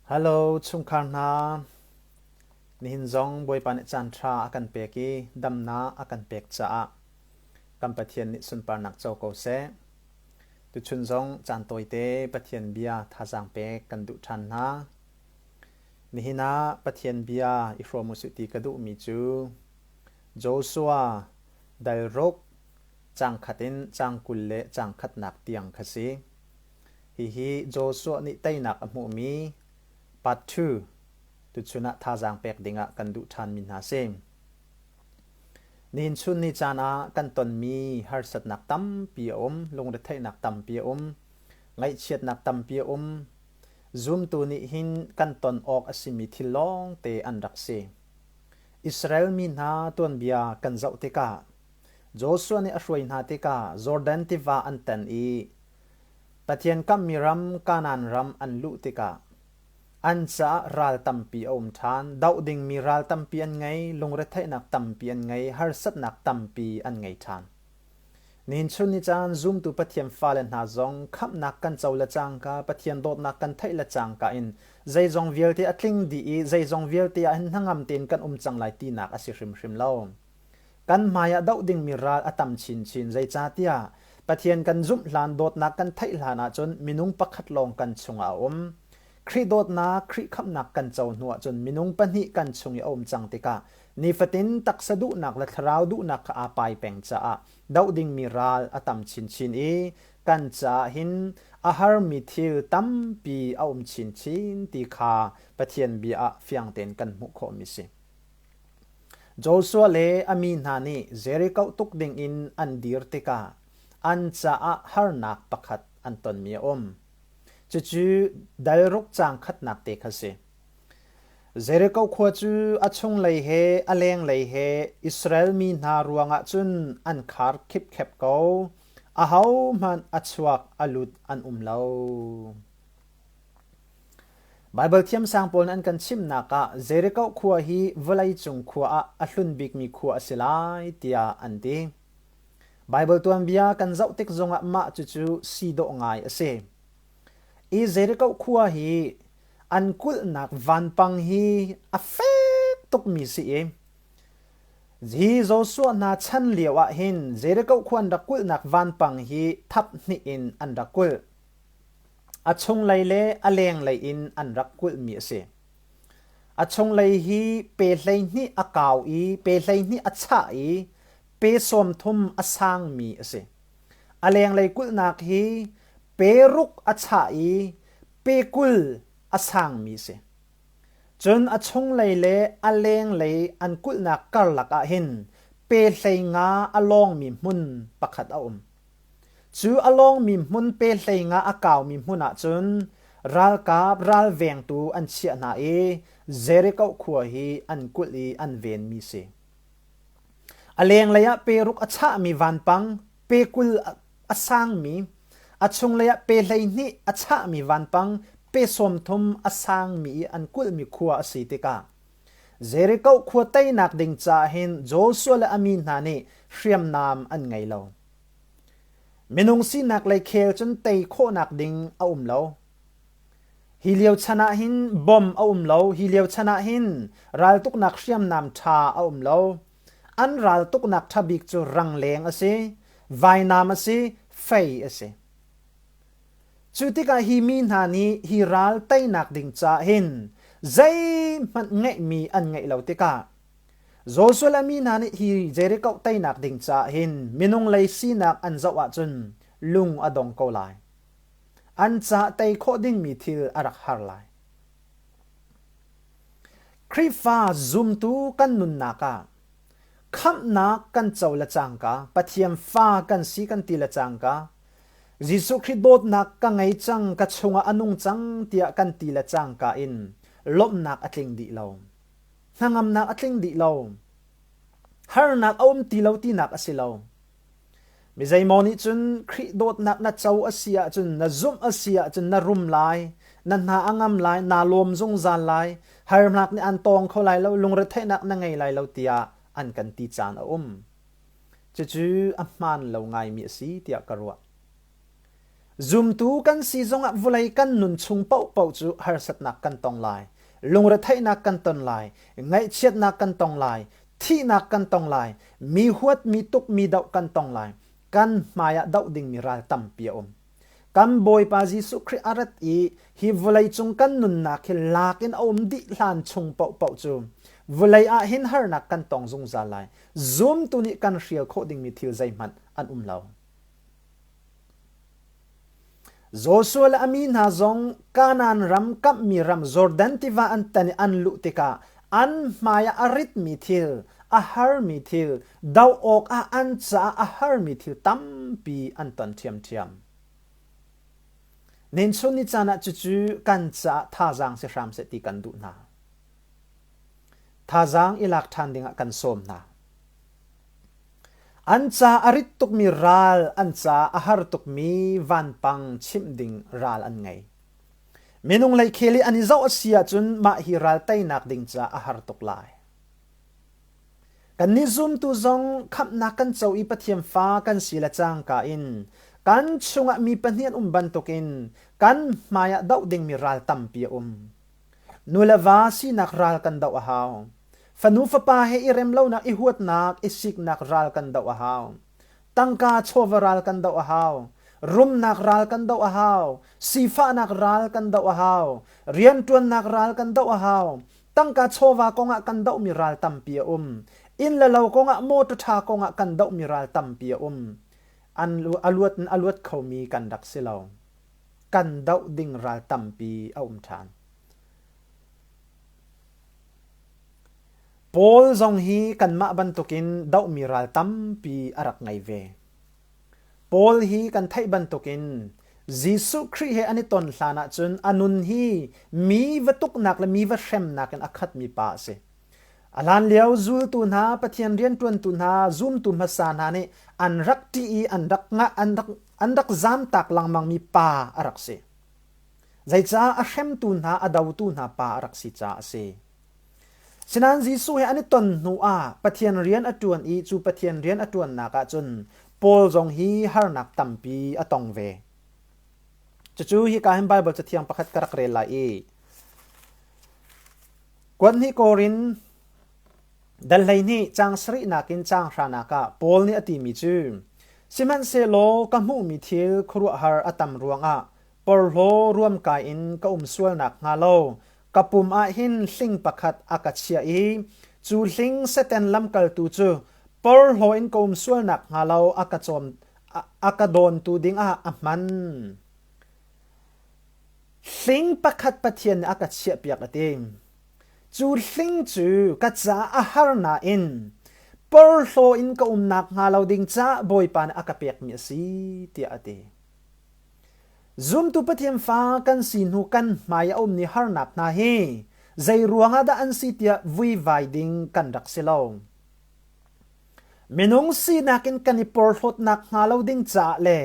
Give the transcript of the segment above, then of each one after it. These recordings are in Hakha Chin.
Hello chungkhar hna. Nihin zong Bawipa nih caanṭha a kan pek i damnak a kan pek caah kan Pathian nih sunparnak co ko seh. Tuchun zong caan tawite Pathian bia thazaang pek kan duh ṭhan hna. Nihin ah Pathian bia i hrawm u sih ti ka duhmi cu Joshua dal ruk caang khat in caang kul le caang khatnak tiang kha si. Hihi Joshua nih teinak a hmuhmi, part two, tuchun ah thazaang pek dingah kan duh ṭhanmi hna si. Nihin chun ni caan ah kan tonmi harsatnak tampi a um, lungretheihnak tampi a um, ngaihchiatnak tampi a um. Zumtu nih hin kan ton awk a simi thil lawngte an rak si. Israel mi hna tuanbia kan zoh tikah, Joshua nih a hruai hna tikah Jordan tiva an tan i Pathian kamhmi ram Kanaan ram an luh tikah an caah ral tampi a um ṭhan. Doh dingmi ral tampi an ngei, lungretheihnak tampi an ngei, harsatnak tampi an ngei ṭhan. Nihin chun ni caan zumtu Pathian fale hna zong khamhnak kan co le cangka, Pathian dawtnak kan theih le cangka in zeizong vialte a tling dih i zeizong vialte ah hin hnangam tein kan um cang lai tinak a si hrimhrim lo. Kan hmaiah doh dingmi ral a tam chinchin. Zeicahtiah Pathian kan zumh hlan dawtnak kan theih hlan ahcun minung pakhat lawng kan chungah a um. Khrih dawtnak, Khrih khamhnak kan co hnu ahcun minung pahnih kan chung i a um cang tikah nifatin taksa duhnak le thlarau duhnak kha aa pai peng caah doh dingmi ral a tam chinchin i kan caah hin a harmi thil tampi a um chinchin ti kha Pathian bia ah fiang tein kan hmuh khawhmi a si. Joshua le a mi hna nih Jeriko tuk dingin an dir tikah an caah harnak pakhat an tonmi a um. Cucu dal ruk caang khatnak te kha si. Jeriko khua cu a chunglei he a lenglei he Israel mi hna ruangah cun an khar khipkhep ko. Ahohmanh a chuak a lut an um lo. Baibal thiamsang pawl nih an kan chimhnak ah Jeriko khua hi vawleicung khua ah a hlun bikmi khua a si lai tiah an ti. Baibal tuanbia kan zoh tik zongah mah cucu si dawh ngai a si. I Jeriko khua hi an kulhnak vanpang hi a fek tukmi si i hi Joshua hna chan lio ah hin Jeriko khua an rak kulhnak vanpang hi thap hnih in an rak kulh. A chunglei le a lenglei in an rak kulhmi a si. A chunglei hi pe hleihnih a kau i pe hleihnih a chah i pe sawm thum a sangmi a si. A lenglei kulhnak hi pe ruk a chah i pe kul a sangmi a si. Cun a chunglei le a lenglei an kulhnak karlak ah hin pe hleinga a lawngmi hmun pakhat a um. Cu a lawngmi hmun pe hleinga a kaumi hmun ah cun ralkap ralvengtu an chiah hna i Jericho khua hi an kulh i an venmi a si. A lenglei ah peruk a chahmi vanpang, pe kul a sangmi, a chunglei ah pe hleihnih a chahmi vanpang, pe sawm thum a sangmi i an kulhmi khua a si tikah Jeriko khua teinak ding caah hin Joshua le a mi hna nih hriamnam an ngei lo. Minung sinak lei khel cun tei khawhnak ding a um lo. Hi lio chan ah hin bom a um lo. Hi lio chan ah hin raltuknak hriamnam ṭha a um lo. An raltuknak ṭha bik cu rangleng a si, vainam a si, fei a si. Cu tikah hi mi hna nih hi ral teinak ding caah hin zeihmanh ngeihmi an ngeih lo tikah Joshua le mi hna nih hi Jericho teinak ding caah hin minung lei sinak an zoh ahcun lung a dong ko lai. An caah tei khawh dingmi thil a rak har lai. Khrihfa zumtu kan nunnak ah khamhnak kan co le cangka, Pathian fa kan si kan ti le cangka, Jesuh Khrih dawtnak ka ngei cang, ka chungah a nung cang tiah kan ti le cangka in lawmhnak a tling dih lo. Hnangamnak a tling dih lo. Harnak a um ti lo tinak a si lo. Mi zeimaw nih cun Khrih dawtnak na co a si ahcun, na zumh a si ahcun, na rum lai, na hna a ngam lai, naa lawm zungzal lai, harnak nih aan tawng kho lai lo, lungretheihnak na ngei lai lo tiah an kan ti caan a um. Cucu a hmaan lo ngaimi a si tiah ka ruah. Zumtu kan si zongah vulei kan nun chung paohpaoh cu harsatnak kan tong lai. Lungretheihnak kan ton lai. Ngaihchiatnak kan tong lai. Thihnak kan tong lai. Mi huat, mi tuk, mi doh kan tong lai. Kan hmaiah doh dingmi ral tampi a um. Kan Bawipa Jesuh Khrih a rat i hi vawleicung kan nunnak hi lak in a um dih hlan chung paohpaoh cu vawlei ah hin harnak kan tong zungzal lai. Zumtu nih kan hrial khawh dingmi thil zeihmanh an um lo. Joshua le a mi hna zong Kanaan ram kamhmi ram Jordan tiva an tan i an luh tikah an hmaiah a ritmi thil, a harmi thil, doh awkah an caah a harmi thil tampi an ton ṭhiamṭhiam. Nunchun ni caan ah cucu kan caah thazaang si hram seh ti kan duh hna. Thazaang i lak ṭhan dingah kan sawm hna. An ca a rit tukmi ral, an ca a har tukmi vanpang chimh ding ral an ngei. Minung lei khel i an i zoh a si ahcun mah hi ral teinak ding caah a har tuk lai. Kannih zumtu zong khamhnak kan co i Pathian fa kan si le cangka in kan chungah mi pahnih an um bantukin kan hmaiah doh dingmi ral tampi a um. Nu le va sinak ral kan doh a hau. Fanu fapa he i rem lonak, i huatnak, i siknak ral kan doh a hau. Tangka chawva ral kan doh a hau. Rumnak ral kan doh a hau. Sifahnak ral kan doh a hau. Rianṭuannak ral kan doh a hau. Tangka chawva kong ah kan dohmi ral tampi a um. Inn le lo kong ah, mawṭaw ṭha kong ah kan dohmi ral tampi a um. An a luat in a luat khomi kan rak si lo. Kan doh ding ral tampi a um ṭhan. Paul zong hi kanmah bantukin dohmi ral tampi a rak ngei ve. Paul hi kan theih bantukin Jesuh Khrih he an i ton hlan ahcun a nun hi mi va tuknak le mi va hremnak in a khatmi pa a si. A hlan lio zultu hna, Pathian rianṭuantu hna, zumtu hmasa hna nih an rak ṭih i an rak ngah, an rak, an rak zamtak lengmangmi pa a rak si. Zeicah a hremtu hna, a dotu hna pa a rak si caah a si. Sinain Jesuh he an i ton hnuah Pathian rian a ṭuan i cu Pathian rian a ṭuannak ah cun Paul zong hi harnak tampi a tong ve. Cucu hika hin Baibal cathiang pakhat ka rak rel lai i kuat hnih korin dal hleihnih caang sarihnak in caang hranak ah Paul nih a timi cu sihmanhsehlaw ka hmuhmi thil khuaruahhar a tam ruangah porhlaw ruamkai in ka um sual nakhnga lo Ka pum ah hin hling pakhat a ka chiah i cu hling Satan lamkaltu cu porhlaw in ka um sual nakhnga lo a ka cawm a ka dawntu dingah a hman. Hling pakhat Pathian nih a ka chiahpiak a ti. Cu hling cu ka caah a har nain porhlaw in ka um nakhnga lo ding caah Bawipa nih a ka pekmi a si tiah a ti. Zumtu Pathian fa kan si hnu kan hmai a ummi harnak hna hi zeiruangah dah an si tiah vuivai ding kan rak si lo. Minung sinak in kan i porhlawt nakhnga lo ding caah le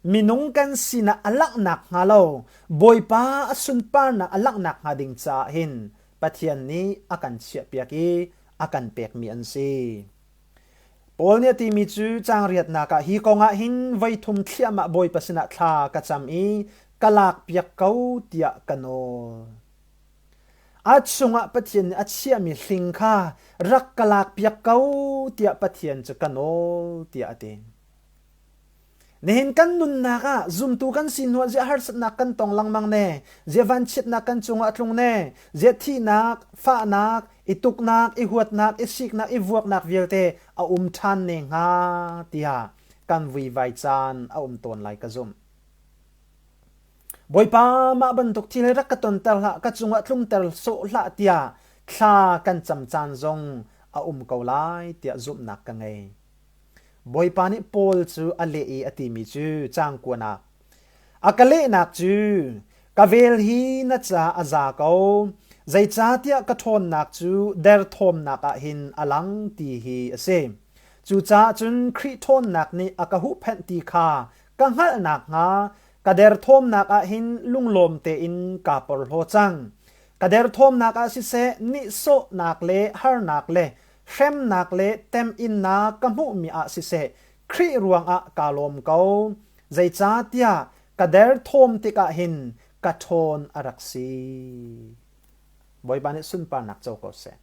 minung kan sinah a langh nakhnga lo Bawipa a sunparnak a langh nakhnga ding caah hin Pathian nih a kan chiahpiak i a kan pekmi an si. Paul nih a timi cu caangriatnak ah hi kongah hin voi thum thliahmah Bawipa sinah thla ka cam i ka lakpiak ko tiah ka nawl. A chungah Pathian nih a chiahmi hling kha rak ka lakpiak ko tiah Pathian cu ka nawl tiah a ti. Nihin kan nunnak ah zumtu kan si hnuah zia harsatnak kan tong lengmang ne. Zia vanchiatnak kan cungah a tlung ne. Zia thihnak, fahnak, i tuknak, i huatnak, i siknak, i vuaknak vialte a um ṭhan ne hnga tiah kan vuivai caan a um tawn lai ka zumh. Bawipa mah bantuk thil rak ka tonter hlah, ka cungah tlumter sawh hlah tiah thla kan cam caan zong a um ko lai tiah zumhnak ka ngei. Bawipa nih Paul cu a leh i a timi cu caang kuan ah, A ka lehnak cu ka vel hi na ca a za ko, zeicahtiah ka ṭhawnnak cu derthawmnak ah hin a lang ti hi a si. Cucaah cun Khrih ṭhawnnak nih a ka huhphenh ti kha ka hngalh nakhnga ka derthawmnak ah hin lunglawm tein kaa porhlaw cang. Ka derthawmnak ah siseh, nihsawhnak le harnak le hremnak le temhinnak ka hmuhmi ah siseh Khrih ruangah kaa lawm ko. Zeicahtiah ka derthawm tikah hin ka ṭhawn a rak si. Bawipa nih sunparnak co ko seh.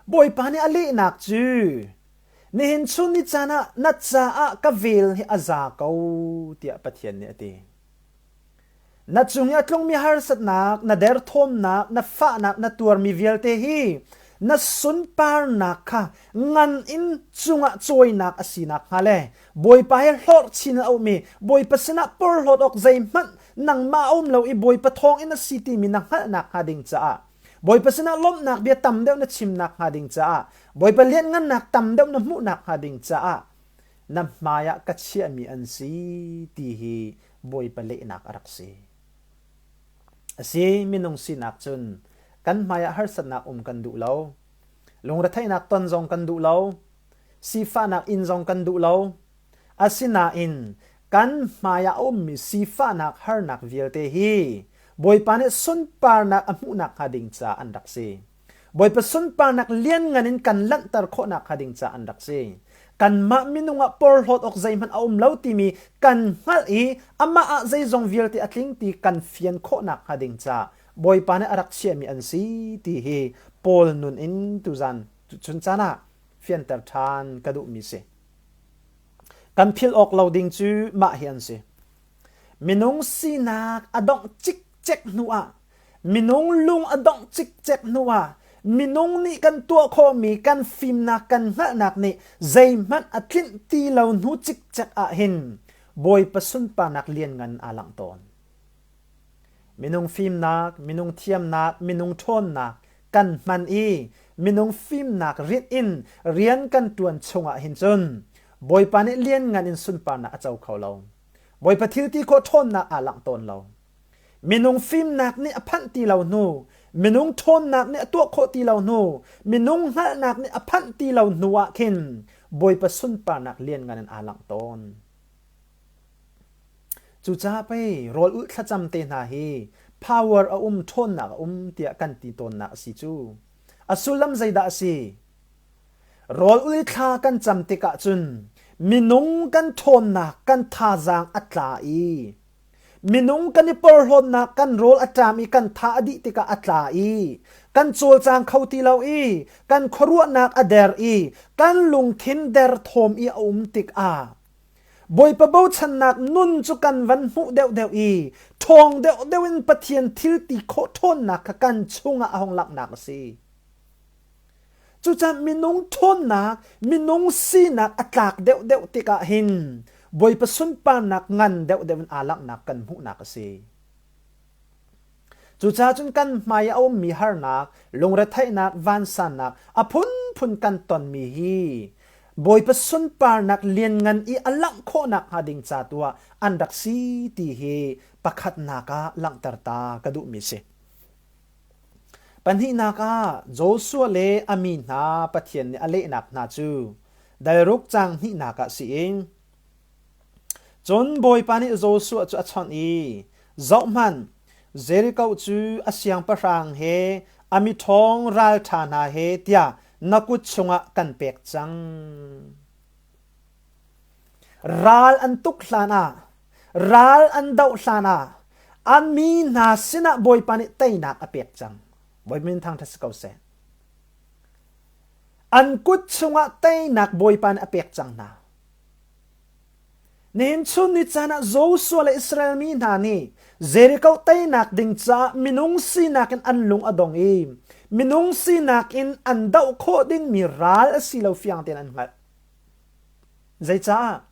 Bawipa nih a lehnak cu nihin chun ni caan ah na caah ka vel hi a za ko tiah Pathian nih a ti. Na cung i a tlungmi harsatnak, na derthawmnak, na fahnak na tuarmi vialte hi na sunparnak kha ngan in cungah cawinak a si nakhnga le Bawipa he hlorh chin a ummi Bawipa sinah porhlawt awk zeihmanh nangmah a um lo i Bawipa thawngin a si timi na hngalh nakhnga ding caah Bawipa sinah lawmhnak bia tam deuh na chim nakhnga ding caah Bawipa lianhngannak tam deuh na hmuh nakhnga ding caah na hmaiah ka chiahmi an si ti hi Bawipa lehnak a rak si. A si, minung sinak cun kan hmaiah harsatnak um kan duh lo. Lungretheihnak ton zong kan duh lo. Sifahnak in zong kan duh lo. Asinain kan hmaiah a ummi sifahnak harnak vialte hi Bawipa nih sunparnak a hmuh nakhnga ding ca an rak si. Bawipa sunparnak lianngan in kan langhter khawhnak hnga ding caah an rak si. Kanmah minung ah porhlawt awk zeihmanh a um lo timi kan hngalh i amah ah zeizong vialte a tling ti kan fian khawhnak hnga ding caah Bawipa nih a rak chiahmi an si ti hi Paul nun in tuzan cun caan ah fianter ṭhan ka duhmi si. Kan philh awk lo ding cu mah hi an si. Minung sinak a dongh cikcek hnuah minung lung a dongh cikcek hnuah minung nih kan tuah khawhmi kan fimnak kan hngalhnak nih zeihmanh a tlinh ti lo hnu cikcek ah hin Bawipa sunparnak lianngan aa langh tawn. Minung fimnak, minung thiamnak, minung ṭhawnnak kan hman i minung fimnak rinh in rian kan ṭuan chungah hin cun Bawipa nih lianngan in sunparnak a co kho lo. Bawipa thilti khawh ṭhawnnak aa langh tawn lo. Minung fimnak nih a phanh ti lo hnu, minung ṭhawnnak nih a tuah khawh ti lo hnu, minung hngalhnak nih a phanh ti lo hnu ah khin Bawipa sunparnak lianngan in aa langh tawn. Cucaah pei rawl ulh thlacam te hna hi power a um ṭhawnnak a um tiah kan ti tawnnak a si cu. A sullam zeidah a si? Rawl ui thla kan cam tikah cun minung kan ṭhawnnak kan thazaang a tla i minung kan i porhlawtnak kan rawl a ṭam i kan tha a dih tikah a tla i kan cawlcang kho ti lo i kan khuaruahnak a der i kan lungthin der thawm i a um tikah Bawipa bochannak nun cu kan van hmuh deuhdeuh i ṭhawng deuhdeuh in Pathian thil ti khawh ṭhawnnak kha kan chungah a hung langhnak a si. Cucaah minung ṭhawnnak, minung sinak a tlak deuhdeuh tikah hin Bawipa sunparnak ngan deuhdeuh in aa langhnak kan hmuhnak a si. Cucaah cun kan hmai a ummi harnak, lungretheihnak, vansannak a phunphun kan tonmi hi Bawipa sunparnak lianngan i a langh khawhnak hnga ding ca tu ah an rak si ti hi pakhatnak ah langhter ta ka duhmi si. Pahnihnak ah Joshua le a mi hna Pathian nih a lehnak hna cu dairuk cang hnihnak ah si in Cun Bawipa nih Joshua cu a chawnh i, Zohhmanh, Jeriko cu a siangpahrang he, a miṭhawng ralṭha hna he tiah na kut chungah kan pek cang. Ral an tuk hlanah, ral an doh hlanah, a mi hna sinah Bawipa nih teinak a pek cang. Bawipa min thangṭhat si ko seh. An kut chungah teinak Bawipa nih a pek cang hna. Nehchun ni caan ah Joshua le Israel mi hna nih Jericho teinak ding caah minung sinak in an lung a dong i minung sinak in an doh khawh dingmi ral a si lo fiang tein an hngalh. Zeicah?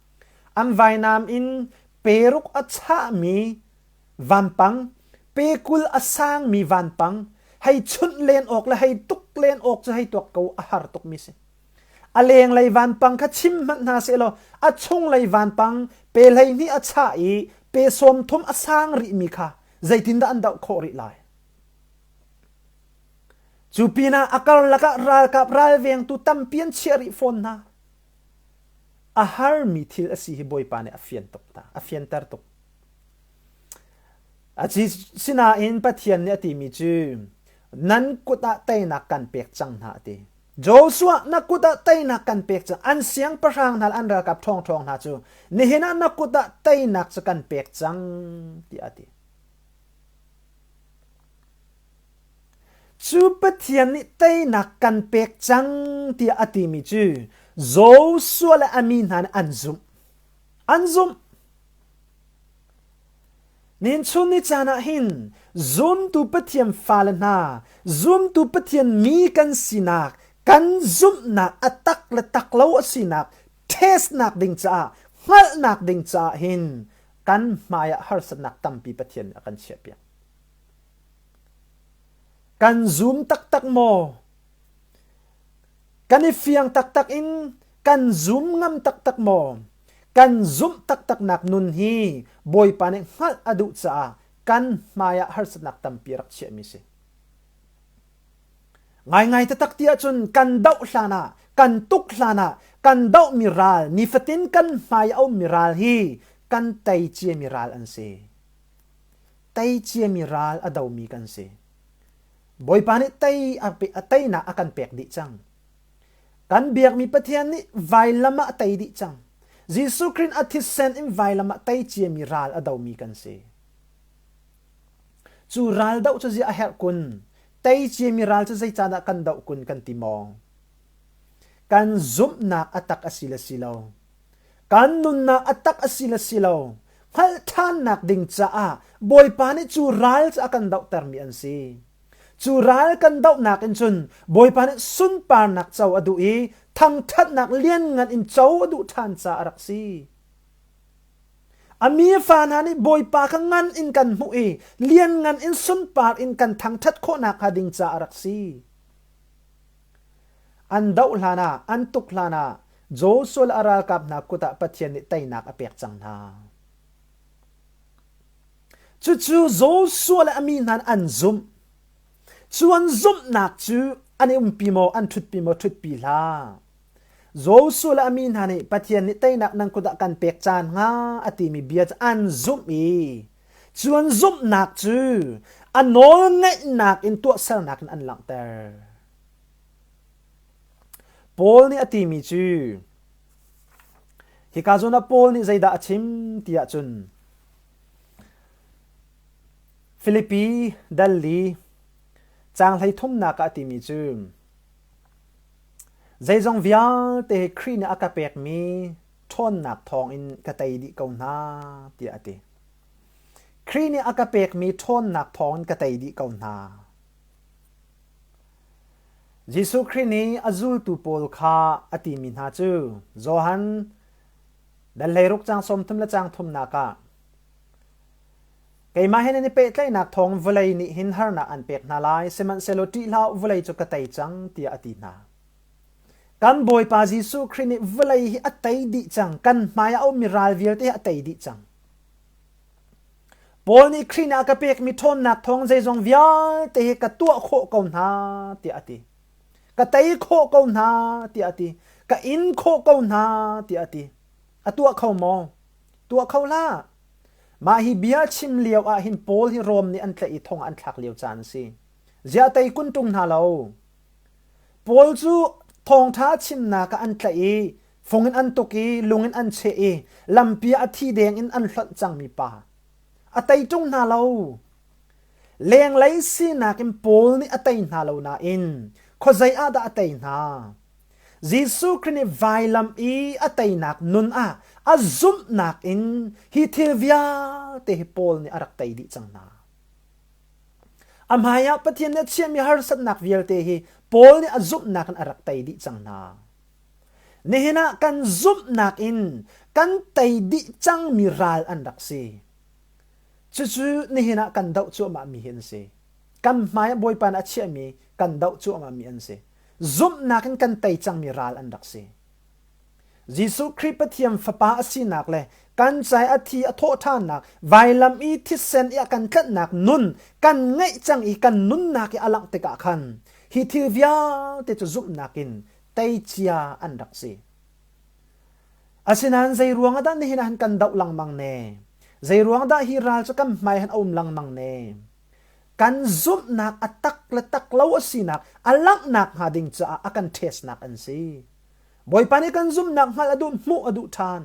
An vainam in peruk a chahmi vanpang, pekul a sangmi vanpang, hei chunh len awk le hei tuk len awk cu hei tuak ko a har tukmi a si. A lenglei vanpang kha chim hmanh hna sehlaw a chunglei vanpang pe hleihnih a chah i pe sawm thum a sang rihmi kha zeitindah an doh khawh rih lai? Cu pinah a karlak ah ralkap ralvengtu tampi an chiah rih fawn hna. A harmi thil a si hi Bawipa nih a fian tuk hna, a fianter tuk. A si sinain Pathian nih a timi cu nan kut ah teinak kan pek cang hna a ti. Joshua na kut ah teinak kan pek cang an siangpahrang hna an ralkap ṭhawngṭhawng hna cu nihin ah na kut ah teinak cu kan pek cang tiah a ti. Cu Pathian nih teinak kan pek cang tiah a timi cu Joshua le a mi hna nih an zumh. An zumh. Nunchun ni caan ah hin zumtu Pathian fale hna zumtu Pathian mi kan sinak kan zumhnak a tak le tak lo a sinak testnak ding caah hngalhnak ding caah hin kan hmaiah harsatnak tampi Pathian nih a kan chiahpiak. Kan zum taktak maw? Kan i fiang taktak in kan zum ngam taktak maw? Kan zumh taktaknak nun hi Bawipa nih hngalh a duh caah kan hmaiah harsatnak tampi a rak chiahmi a si. Ngaingai taktak ti ahcun kan doh hlan ah, kan tuk hlan ah, kan dohmi ral, nifatin kan hmai a ummi ral hi kan tei ciami ral an si. Tei ciami ral a domi kan si. Bawipa nih tei a teinak a kan pek dih cang. Kan biakmi Pathian nih vailam ah a tei dih cang. Jesuh Khrist a thisen in vailam ah tei ciami ral a domi kan si. Cu ral doh cu ziah a herh kun? Tei ciami ral cu zeicanah kan doh kun kan ti maw? Kan zumhnak a tak a si le si lo. Kan nunnak a tak a si le si lo hngalh ṭhannak ding caah Bawipa nih cu ral cu a kan dohtermi an si. Cu ral kan dohnak in cun Bawipa nih sunparnak co a duh i thangṭhatnak lianngan in co a duh ṭhan caah a rak si. A mi fa hna nih Bawipa kha ngan in kan hmuh i lianngan in sunpar in kan thangṭhat khawh nakhnga ding caah a rak si. An doh hlanah, an tuk hlanah Joshua le a ralkap hna kut ah Pathian nih teinak a pek cang hna. Cucu Joshua le a mi hna an zumh. Cu an zumhnak cu an i umpi maw, an ṭhutpi maw, ṭhutpi hlah. Joshua le a mi hna nih Pathian nih teinak nan kut ah kan pek caan hnga a timi bia cu an zumh i Cun zumhnak cu a nawlngeihnak in tuahsernak in an langhter. Paul nih a timi cu hika zawn ah Paul nih zeidah a chim tiah cun Filipi Dalli caang hleithumnak ah a timi cu zeizong vialte Khrih nih a ka pekmi ṭhawnnak thawngin ka tei dih ko hna tiah a ti. Khrih nih a ka pekmi ṭhawnnak thawngin ka tei dih ko hna. Jesuh Khrih nih a zultu pawl kha a timi hna cu Johan dan hleiruk cang sawmthum le cang thumnak ah keimah he nan i pehtlaihnak thawng vawlei nih hin harnak an pek hna lai sihmanhsehlaw ṭih hlah u vawlei cu ka tei cang tiah a ti hna. Kan Bawipa Jesuh Khrih nih vawlei hi a tei dih cang. Kan hmai ah a ummi ral vialte hi a tei dih cang. Paul nih Khrih nih a ka pekmi ṭhawnnak thawng zeizong vialte hi ka tuah khawh ko hna tiah a ti. Ka tei khawh ko hna tiah a ti. Ka in khawh ko hna tiah a ti. A tuah kho maw? Tuah kho hlah. Mah hi bia chim lio ah hin Paul hi Rom nih an tlaih i thong ah an thlak lio caan a si. Ziah tei kun ṭung hna lo? Paul cu thawngṭha chimnak ah an tlaih i fung in an tuk i lung in an cheh i lampi ah a thi deng in an hlonh cangmi pa, a tei ṭung hna lo. Lenglei sinak in Paul nih a tei hna lo nain khuazei ah dah a tei hna? Jesuh Khrih nih vailam i a teinak nun ah a zumhnak in hi thil vialte hi Paul nih a rak tei dih cang hna. A hmaiah Pathian nih a chiahmi harsatnak vialte hi Paul nih a zumhnak in a rak tei dih cang hna. Nihin ah kan zumhnak in kan tei dih cangmi ral an rak si. Cucu nihin ah kan doh cuahmahmi hi an si. Kan hmaiah Bawipa nih a chiahmi kan doh cuahmahmi an si. Zumhnak in kan tei cangmi ral an rak si. Jesuh Khrih Pathian Fapa a sinak le kan cai a thi a thawhṭhannak, vailam i thisen i a kan tlanhnak nun kan ngeih cang i kan nunnak i a langh tikah khan hi thil vialte cu zumhnak in tei cia an rak si. Asinain zei ruang ah dah nihin ah han kan doh lengmang ne? Zei ruang dah hi ral cu kan hmai han um lengmang ne? Kan zumhnak a tak le tak lo a sinak, a langh nakhnga ding caah a kan ṭhesnak an si. Bawipa nih kan zumhnak hngalh a duh hmuh a duh ṭhan.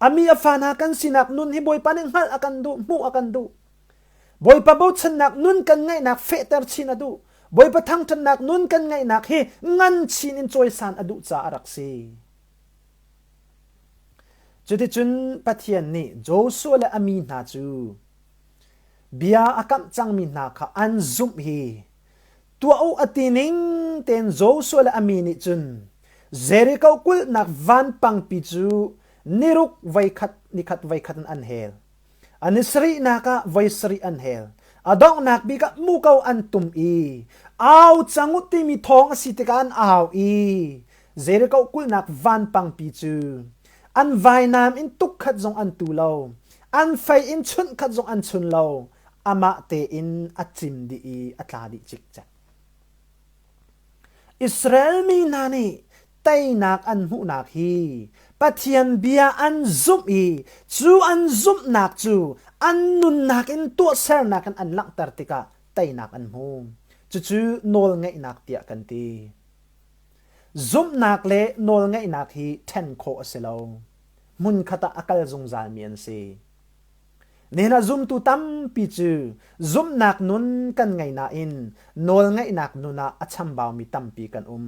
Ami a fa hna kan sinak nun hi Bawipa nih hngalh a kan duh hmuh a kan duh. Bawipa bochannak nun kan ngaihnak fehter chin a duh. Bawipa thangṭhatnak nun kan ngaihnak hi ngan chin in cawisan a duh caah a rak si. Cuticun Pathian nih Joshua le a mi hna cu bia a kamh cangmi hna kha an zumh hi tuah u a ti ning tein Joshua le a mi nih cun Jericho kulhnak vanpangpi cu ni ruk voikhat ni khat voikhat in an hel. Ni sarihnak ah voi sarih an hel. A donghnak bik ah muko an tum i au cang u timi thawng a si tikah an au i Jericho kulhnak vanpangpi cu an vainam in tuk khat zong an tu lo, an fei in chunh khat zong an chun lo. amah tein a cim dih i a tla dih cikcek. Israel mi hna nih teinak an hmuhnak hi Pathian bia an zumh i cu an zumhnak cu an nunnak in tuahsernak in an langhter tikah teinak an hmu. Cucu nawlngeihnak tiah kan ti. Zumhnak le nawlngeihnak hi ṭhen khawh a si lo. Hmunkhat ah a kal zungzalmi an si. Nihin ah zumtu tampi cu zumhnak nun kan ngei nain nawlngeihnak nun ah a chambaumi tampi kan um.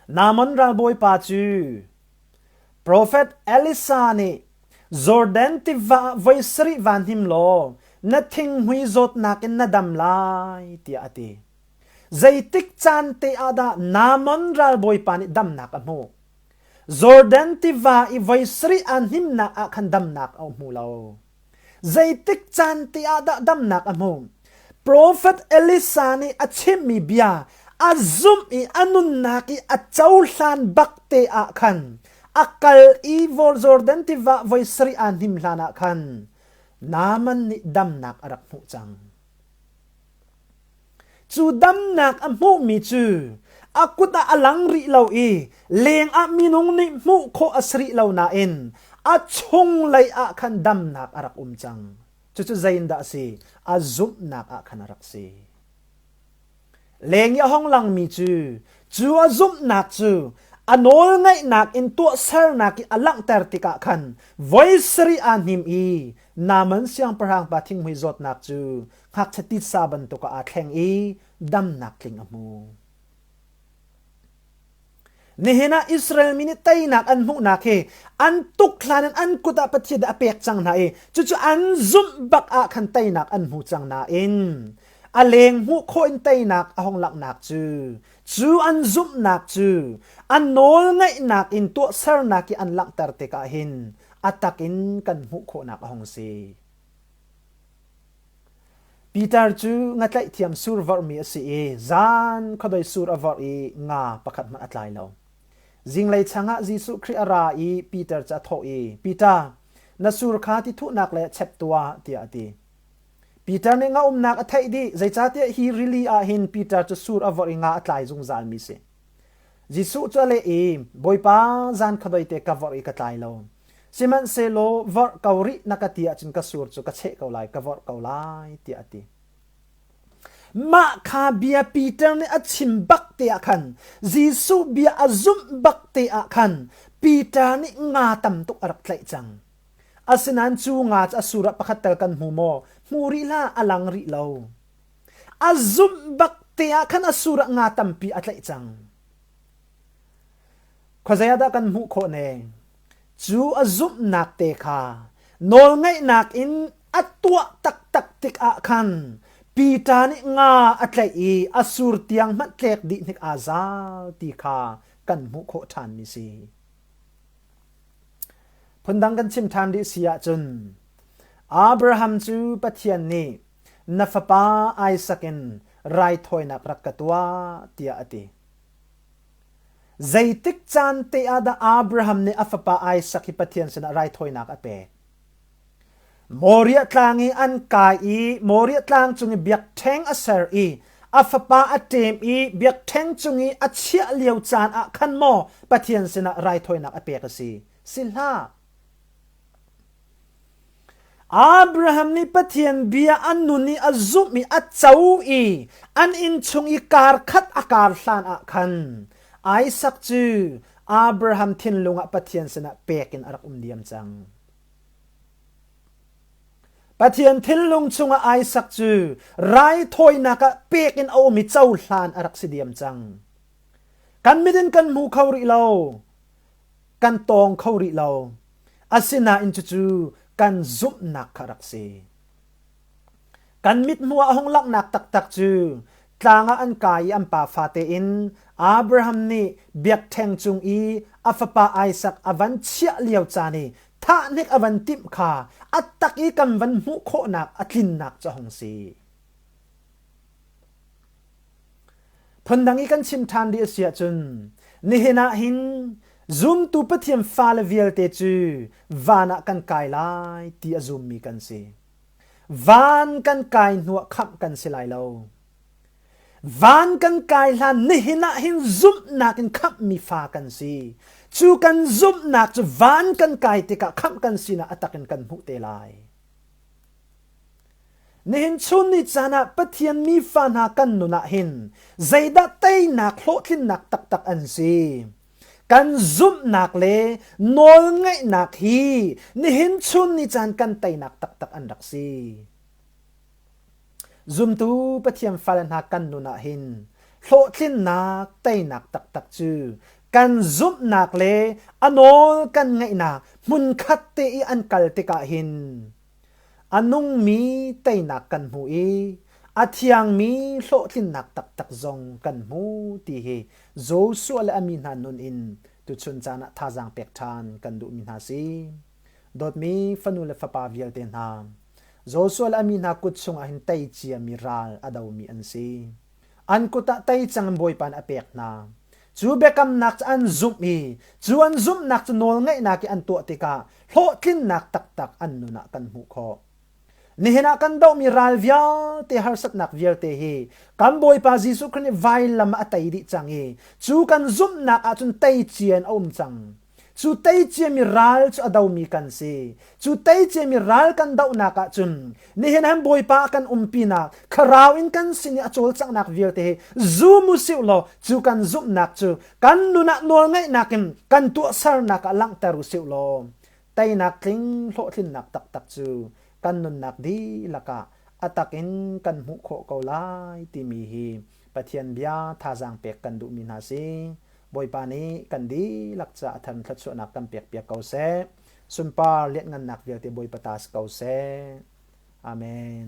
Namon ralbawipa cu Profet Elisa nih Jordan tiva voi sarih van hnim law na thinghmui zawtnak in na dam lai tiah a ti. Zeitik caan te ah dah Namon ralbawipa nih damnak a hmuh? Jordan tiva i voi sarih ah hnimnak ah khan damnak a hmu lo. Zeitik caan te ah dah damnak a hmu? Profet Elisa nih a chimmi bia a zumh i a nunnak i a cohlan bakte ah khan a kal i Jordan tiva voi sarih aa hnim hlanah khan Naaman nih damnak a rak hmuh cang. Cu damnak a hmuhmi cu a kut ah a lang rih lo i lengah minung nih hmuh khawh a si rih lo nain a chunglei ah khan damnak a rak um cang. Cucu zeiindah a si? A zumhnak ah khan a rak si. Leng i a hong langmi cu cu a zumhnak cu a nawlngaihnak in tuahsernak i a langhter tikah khan voi sarih aa hnim i naman siangpahrang pa thinghmui zawtnak cu ngakchia titsa bantuk ah aa thleng i damnak tling a hmu. Nihin ah Israel mi nih teinak an hmuhnak hi an tukhlan in an kut ah Pathian a pek cang hna i cucu an zumh bak ah khan teinak an hmu cang nain a leng hmuh khawh in teinak a hong langhnak cu cu an zumhnak cu an nawl ngaihnak in tuahsernak i an langhter tikah hin a tak in kan hmuh khawhnak a hong si. Pitar cu nga tlaihtiam sur vorhmi a si i zan khuadoi sur a vorh i nga pakhat hmanh a tlai lo. Zinglei changah Jesuh Khrih a ra i Pitar cu a thawh i, Piter, na sur kha ti thuhnak le chep tuah, tiah a ti. Piter nih nga umnak a theih dih, zeicahtiah hi rili ah hin Pitar cu sur a vorh i nga a tlai zungzalmi a si. Jesuh cu a leh i, Bawipa, zan kha doite ka vorh i ka tlai lo. Sihmanhsehlaw vorh ko rih na ka ti ahcun ka sur cu ka cheh ko lai, ka vorh ko lai, tiah a ti. Mah kha bia Peter nih a chim bak te ah khan, Jesuh bia a zumh bak te ah khan, Peter nih nga tam tuk a rak tlaih cang. Asinain cu nga cu a sur ah pakhat tal kan hmu maw? Hmu rih hlah, a lang rih lo. A zumh bak te ah khan a sur ah nga tampi a tlaih cang. Khuazei ah dah kan hmuh khawh ne? Cu a zumhnak te kha nawlngaihnak in a tuah taktak tik ah khan Peter nih nga a tlaih i a sur tiang hmanh tlek dih hnik aa zal ti kha kan hmuh khawh ṭhan mi si. Phundang kan chim ṭhan rih si ahcun Abraham cu Pathian nih na fapa Isak in raithawinak rak ka tuah, tiah a ti. Zeitik caan te ah dah Abraham nih a fapa Isak hi Pathian sinah raithawinak a pek? Moriah tlang i an kai i Moriah tlang cung i biakṭheng a ser i a fapa a ṭem i biakṭheng cung i a chiah lio caan ah khan maw Pathian sinah raithawinak a pek a si? Si hlah! Abraham nih Pathian bia a nun i a zumh i a co i an inn chung i kar khat a kar hlan ah khan Isak cu Abraham thinlung ah Pathian sinah pek in a rak um diam cang. Pathian thinlung chungah Isak cu raithawinak ah pek in a um i cohlan a rak si diam cang. Kan mit in kan hmu kho rih lo. kan tawng kho rih lo. Asinain cucu kan zumhnak kha rak si. Kan mithmuh ah a hung langhnak taktak cu tlang ah an kai i an pa fate in Abraham nih biakṭheng cung i a fapa Isak a van chiah lio caan i thahnek a van timh kha a tak i kan van hmuh khawhnak a tlinnak cu a hung si. Phundang i kan chim ṭhan dih a si ahcun nihin ah hin zumtu Pathian fale vialte cu van ah kan kai lai ti a zummi kan si. Van kan kai hnuah khamh kan si lai lo. Van kan kai hlan nihin ah hin zumhnak in khamhmi fa kan si. Cu kan zumhnak cu van kan kai tikah khamh kan sinak a takin kan hmuh te lai. Nihin chun ni caan ah Pathian mi fa hna kan nun ah hin zeidah teinak hlawhtlinnak taktak an si? Kan zumhnak le nawl ngaihnak hi nihin chun ni caan kan teinak taktak an rak si. Zumtu Pathian fale hna kan nun ah hin hlawhtlinnak teinak taktak cu kan zumhnak le a nawl kan ngaihnak hmunkhat te i an kal tikah hin A nungmi teinak kan hmu i a thiangmi hlawhtlinnak taktak zong kan hmu ti hi Joshua le a mi hna nun in tuchun caan ah thazaang pek ṭhan kan duhmi hna si. Dawtmi fanu le fapa vialte hna, Joshua le a mi hna kut chungah hin tei ciami ral a domi an si. an kut ah tei cangin Bawipa nih a pek hna. Cu biakamnak cu an zumh i cu an zumhnak cu nawlngaihnak i an tuah tikah hlawhtlinnak taktak an nun ah kan hmuh khawh. Nihin ah kan dohmi ral vialte harsatnak vialte hi kan Bawipa Jesuh Khrih nih vailam ah a tei dih cang i cu kan zumhnak ahcun tei cian a um cang. Cu teiciami ral cu a domi kan si. Cu teiciami ral kan dohnak ah cun nihin han Bawipa kan umpinak thlarau in kan sin i a cawlcanghnak vialte hi zum u sih law cu kan zumhnak cu kan nun ah nawlngaihnak in kan tuahsernak ah langhter u sih law teinak tling hlawhtlinnak taktak cu kan nunnak dihlak ah a tak in kan hmuh khawh ko lai timi hi Pathian bia thazaang pek kan duhmi hna si. Bawipa nih kan dihlak caah a thar in thluachuahnak kan pekpiak ko seh. Sunpar lianhngannak vialte Bawipa ta si ko seh. Amen.